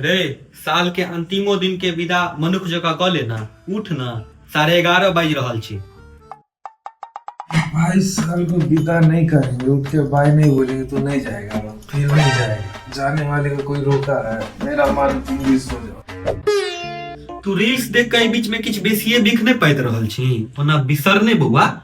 रे साल के अंतिमो दिन के विदा मनुख जका क लेना उठ ना साढ़े एगारह बाजि रहल छी भाई साल को विदा नहीं करेंगे उठ के बाय नहीं बोलेंगे तो नहीं जाएगा वो, फिर नहीं जाएगा जाने वाले को कोई रोका है मेरा मान तुम भी सो जाओ तू रील्स देख के एहि बीच में किछु बेसिए बिख नहि पाइत रहल छी ओना बिसर नहि बौआ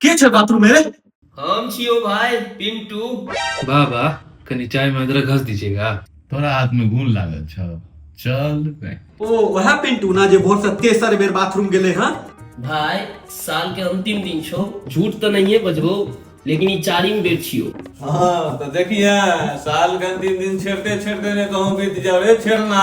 के छै बाथरूम में रे हम छियो भाई पिंटू वाह वाह कनी चाय में अदरक घस दीजिएगा तोरा हाथ में गुण लागल छौ चल बे। ओ वह पिंटू ना जे भोर से तेसर बेर बाथरूम गेले हां भाई साल के अंतिम दिन छो झूठ तो नहीं है बजबो लेकिन ई चारिम बेर छियो हाँ तो देखिए साल के अंतिम दिन छेड़ते छेड़ते ने कहूँ बीत जाओ रे छेड़ना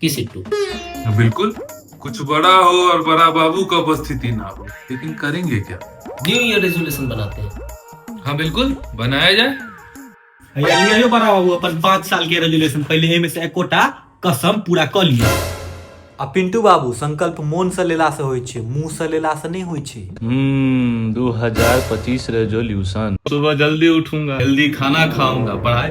की सिट्टू बिल्कुल कुछ बड़ा हो और बड़ा बाबू का उपस्थिति ना हो लेकिन करेंगे क्या न्यू ईयर रेजोल्यूशन बनाते हैं हाँ बिल्कुल बनाया जाए भैया ले आयो बड़ा बाबू अपन पाँच साल के रेजुलेशन पहले एमे से एकोटा कसम पूरा कर लिया आ पिंटू बाबू संकल्प मोन से लेला से होइ छै मुंह से लेला से नहीं होइ छै हम्म 2025 रेजोल्यूशन सुबह जल्दी उठूंगा जल्दी खाना खाऊंगा पढ़ाई